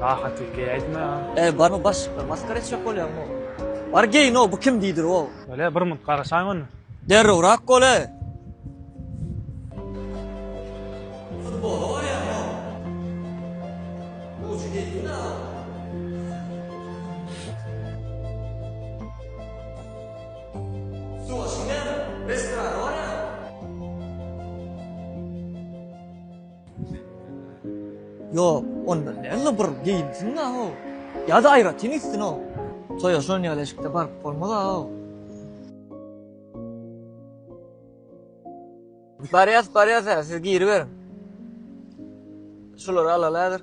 Daha tek geý aýtma ya. Eý barmy başlyk maskara etjek bolýaňmy? Bar geý no bu kim diýdir wow. Bele bir munt garaşaý onda. Derrewrak bole. Futbola barýaň no. Uçy geldi na. Suwa şiňňäme? Restorana barýaň. Ýok, ondan däl-de bir geýinsin-ä-ow. Ýa-da aýratyn gitsin-ow. Toýa şon ýaly eşikde baryp bolmaz-a-ow. Barýas, barýas-ä, siz giriberiň. Şulary alaly häzir.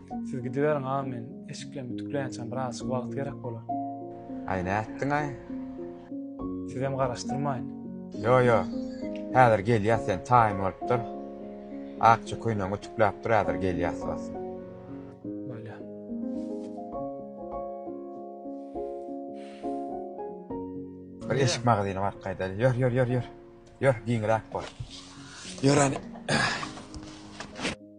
Siz gidiberiň aga men eşiklerimi ütükleýänçäm birazjyk wagt gerek bolar. Aý nätdiňaý? Sizem garaşdyrmaýyn. Ýo ýo häzir gelýäs sen taýyn bolup dur. Akja köýnegiňi ütükläp dur häzir gelýäs basym. Bolýa. Bir eşik magazyna baryp gaýdaýly. Ýör ýör ýör ýör. Ýör giňiräk bol. Ýör hany.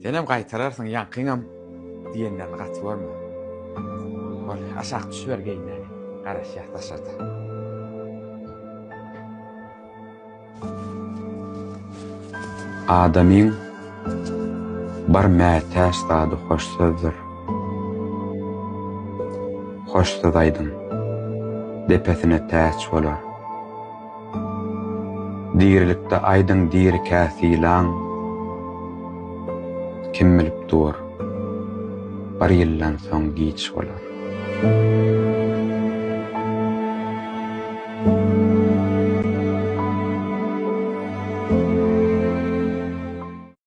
Senem gaýtararsyň ýaňkyňam diýenlerini gaty görme. Bol, aşak düşüber geýinmäni. Garaşýas daşarda. Adamyň bar mätäç zady hoş sözdür. Hoş söz aýdyň. Depesine täç bolar. Dirilikde aýdyň dirikä sylaň Kim bilip dur bir ýyldan soň giç bolar.